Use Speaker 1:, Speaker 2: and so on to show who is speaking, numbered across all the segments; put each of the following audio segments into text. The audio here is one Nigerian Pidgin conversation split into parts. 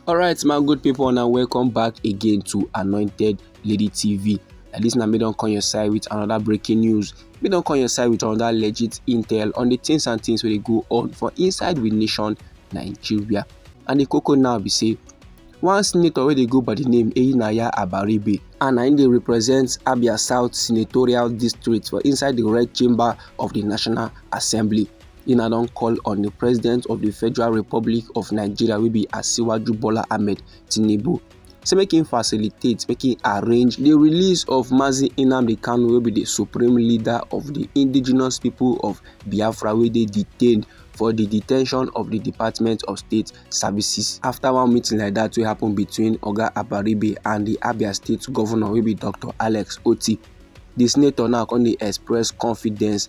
Speaker 1: alright my good people and welcome back again to anointed lady tv and this now me don't call your side with another breaking news me don't call your side with another legit intel on the things and things where they go on for inside with nation nigeria and the cocoa now be say one senator where they go by the name Eyinaya Abaribe and im dey represent Abia South senatorial district for inside the red chamber of the National Assembly. in a long call on the president of the federal republic of nigeria will be asiwaju bola ahmed tinubu say make him facilitate make him arrange the release of mazi nnamdi kanu wey be the supreme leader of the indigenous people of biafra wey dey detained for the detention of the department of state services after one meeting like that wey happen between oga abaribe and the abia state governor wey be dr alex oti the senator now come dey express confidence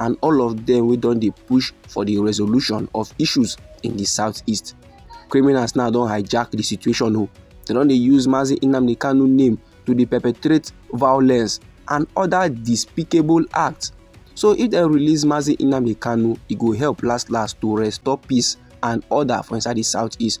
Speaker 1: and all of dem wey don dey push for di resolution of issues in di southeast criminals now don hijack di situation o oh. dem don dey use mazi nnamdi kanu name to dey perpetrate violence and other despicable acts so if dem release mazi nnamdi kanu e go help last last to restore peace and order for inside di southeast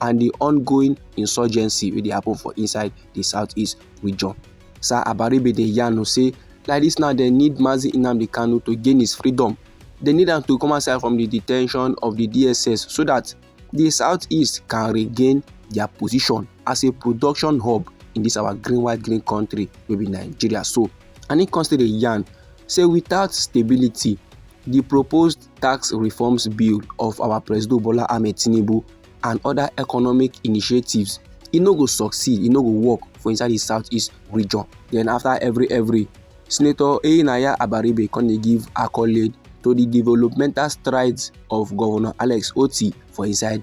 Speaker 1: and the ongoing insurgency wey dey happen for inside the southeast region. Sir Abaribe dey yarn o say like this now dem need Mazi Nnamdi Kanu to gain his freedom. They need am to come outside from the detention of the DSS so that the southeast can regain their position as a production hub in this our green white green country wey be Nigeria so. And he come still dey yarn say without stability the proposed tax reforms bill of our President Bola Ahmed Tinubu and other economic initiatives, e no go succeed, e no go work for inside the southeast region. Then after every every, Senator Enaya Abaribe come dey give accolade to the developmental strides of Governor Alex Otti for inside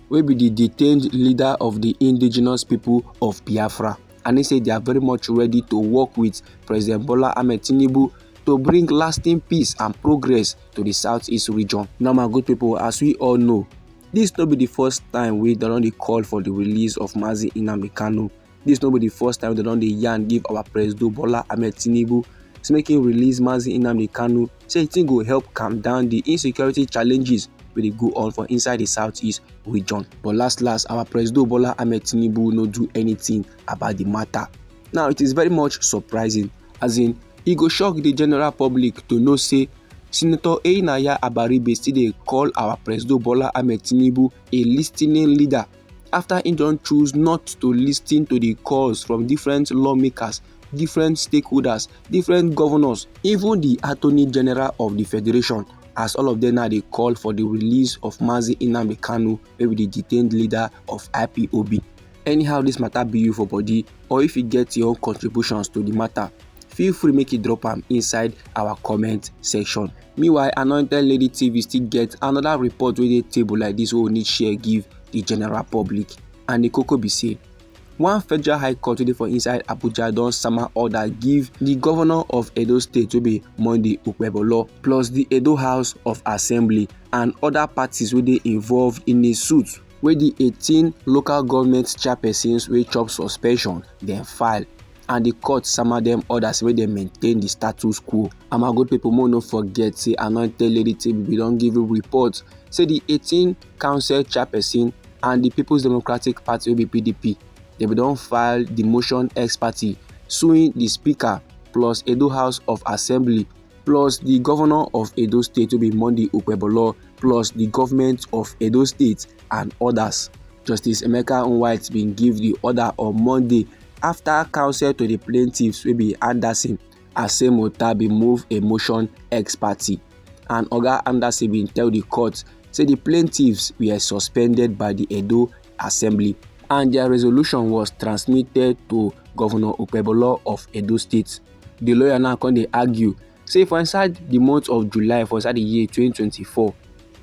Speaker 1: wey be di detained leader of di indigenous people of biafra and he say they are very much ready to work with president bola ahmed tinubu to bring lasting peace and progress to di southeast region. now my good people, as we all know dis no be di first time wey dem don dey call for di release of mazi nnamdi kanu Dis no be di first time dem don dey yarn give our presido Bola Ahmed Tinubu say make im release Mazi Nnamdi Kanu say e go help calm down di insecurity challenges wey dey go on for inside di southeast region. But last last, our presido Bola Ahmed Tinubu no do anything about di matter. Now it is very much surprising as in e go shock di general public to know say Senator Einaya Abaribe still dey call our presido Bola Ahmed Tinubu a listening leader afta im don choose not to lis ten to di calls from different lawmakers different stakeholders different govnors even di attorney general of di federation as all of dem now dey call for di release of mazi nnamdi kanu wey be di detained leader of ipob anyhow dis matter be you for body or if you get your own contributions to di matter feel free make you drop am inside our comment section Meanwhile, Anointed Lady TV still get another report wey dey table like this wey we need share give the general public. And the koko be say, one federal high court wey dey for inside Abuja don sama order give the governor of Edo State wey be Monday Okpebholo plus the Edo House of Assembly and other parties wey dey involved in a suit wey di 18 local government chairpersons wey chop suspension dem file and di court sama dem order say make dem maintain di status quo and my good pipo mo no forget say anointed lady team bin don give a report say di 18 council chairperson and di peoples democratic party wey be pdp dem bin don file di motion ex parte suing di speaker plus edo house of assembly plus di governor of edo state wey be monday okpebholo plus di government of edo state and odas justice emeka nwite bin give di order on monday afta counsel to di plaintiffs wey be anderson asemota bin move a motion ex parte and oga anderson bin tell di court say di plaintiffs were suspended by di edo assembly and dia resolution was transmitted to governor okpebholo of edo state di lawyer now come dey argue say for inside di month of july for inside di year 2024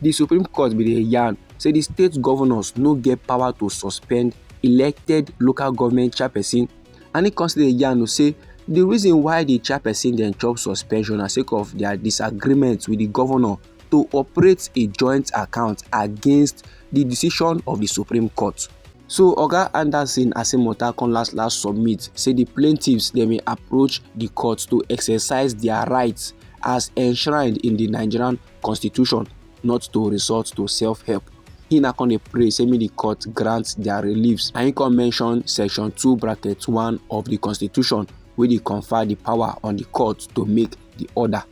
Speaker 1: di supreme court bin dey yarn say di state governors no get power to suspend elected local government chairperson and e come still dey yarn say di reason why di chairperson dem chop suspension na sake of dia disagreement wit di governor to operate a joint account against di decision of di supreme court. So Oga Anderson Asimota come last last submit say di plaintiffs dem may approach di court to exercise dia rights as enshrined in di Nigerian constitution not to resort to self-help. He na come dey pray say make di court grant dia reliefs and he come mention section two bracket one of di constitution wey dey confer di power on di court to make di order.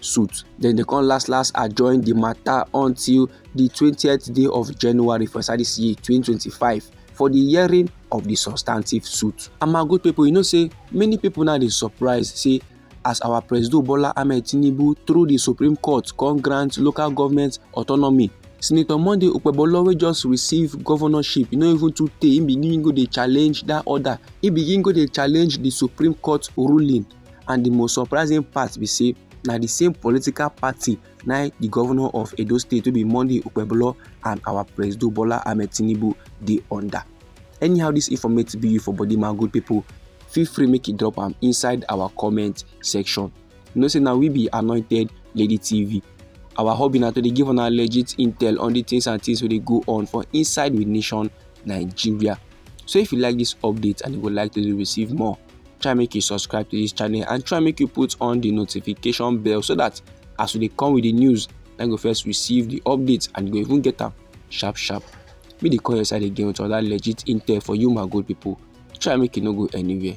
Speaker 1: suit then they come last last adjourn the matter until the 20th day of january for inside this year 2025 for the hearing of the substantive suit and my good people you know say many people now dey surprise say as our president bola ahmed tinubu through the supreme court come grant local government autonomy senator monday okpebholo wey just receive governorship e no even too tey e begin go dey challenge that order e begin go dey challenge the supreme court ruling and the most surprising part be say na the same political party na the governor of edo state wey be monday okpebholo and our president bola ahmed tinubu dey under anyhow this informative video for body my good people feel free make you drop am inside our comment section you know say na we be anointed lady tv our hobby na to dey give una legit intel on the things and things wey dey go on for inside with nation nigeria so if you like this update and you would like to receive more try make you subscribe to this channel and try make you put on the notification bell so that as we dey come with the news na go first receive the updates and you go even get am sharp sharp make dey call your side again with other legit intel for you my good people try make you no go anywhere